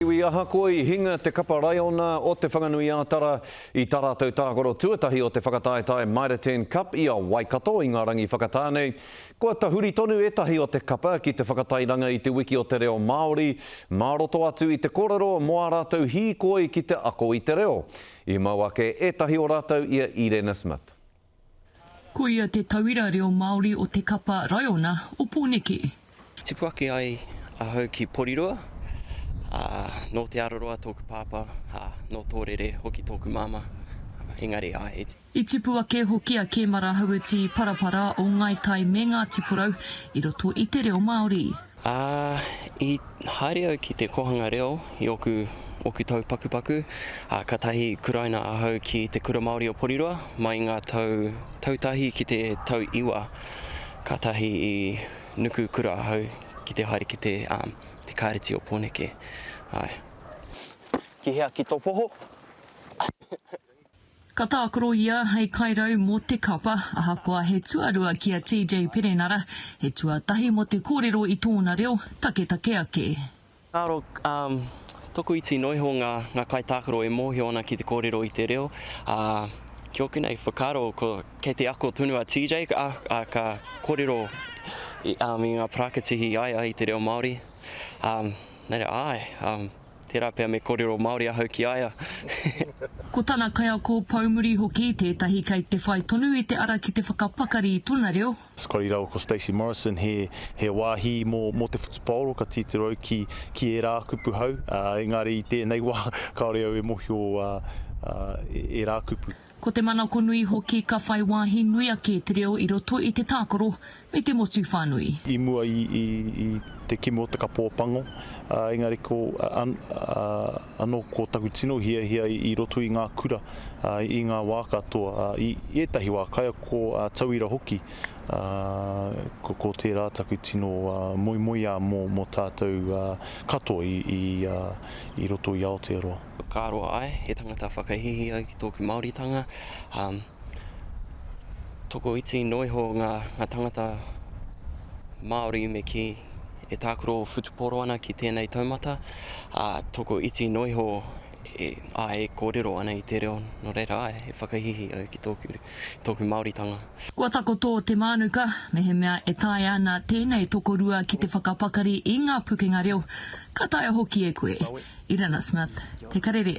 Iwi ahakoa i hinga te kapa raiona o Te Whanganui-ā-Tara i tā rātou tākaro tuatahi o te whakataetae Mitre-Ten Cup i a Waikato, i ngā rangi whakatā nei. Kua tahuri tonu ētahi o te kapa ki te whakatairanga i te Wiki o te Reo Māori mā roto atu i te kōrero mō ā rātou hīkoi ki te ako i te reo. I mau ake ētahi o rātou i a Irena Smith. Ko ia te tauira reo Māori o te kapa Raiona o Pōneke. Tipu ake ai ahau ki Porirua, ā, nō Te Araroa tōku pāpā, ā, nō Tōrere hoki tōku māmā, engari, āe, i. I tipu ake hoki a Kēmara Hauiti Parapara o Ngāi Tai me Ngāti Porou i roto i te reo Māori. Ā, i haere au ki te kōhanga reo i ōku, ōku tau pakupaku, ā, kātahi i kuraina ahau ki Te Kura Māori o Porirua mai i ngā tau tautahi ki te tau iwa. Kātahi i nuku kura ahau ki te haere ki te, ā, te Kāreti o Pōneke. Āe. Ki hea? Ki tō poho? Ka tākaro ia hei kairau mō te kapa, ahakoa he tuarua ki a TJ Perenara, he tuatahi mō te kōrero i tōna reo, taketake ake. Karo, um, tokoiti noa iho ngā, ngā kaitākaro e mōhio ana ki te kōrero i te reo, ā, ki ōku nei whakaaro, ko, kei te ako tonu a TJ, ā, ā, ka kōrero i, um, i ngā parakatihi i ai ai i te reo Māori, um, nā reira, āe, um. Tērā pea me kōrero Māori ahau ki a ia. Ko tana kaiako poumuri hoki tētahi kei te whai tonu i te ara ki te whakapakari i tona reo. Scotty Rawa Ko Stacey Morrison he he wāhi mō mō te whutupaoro ka titiro au ki ki ērā kupu hau ā engari i tēnei wā kāore au e mōhio ā ā ērā kupu. Ko te manakonui hoki ka whai wāhi nui ake te reo i roto i te tākaro me te motu whānui. I mua i te kimi o te kapa o Pango, engari ko anō ko taku tino hiahia i roto i ngā kura, i ngā wā katoa, i ētahi wā kaiako tauira hoki, ko tērā taku tino moemoeā mō tātou katoa i roto i Aotearoa. Whakaaro ai, he tangata whakahīhī ai ki tōku Māoritanga. Tokoiti noa iho ngā tangata Māori me kī e tākaro whutupōro ana ki tēnei taumata, ā, tokoiti noa iho e kōrero ana i te reo. Nō reira, āe, he whakahīhī au ki tōku tōku Māoritanga. Kua takoto te mānuka mehemea e taea ana tēnei tokorua ki te whakapakari i ngā pukenga reo, ka taea hoki e koe. Irina Smith, Te Karere.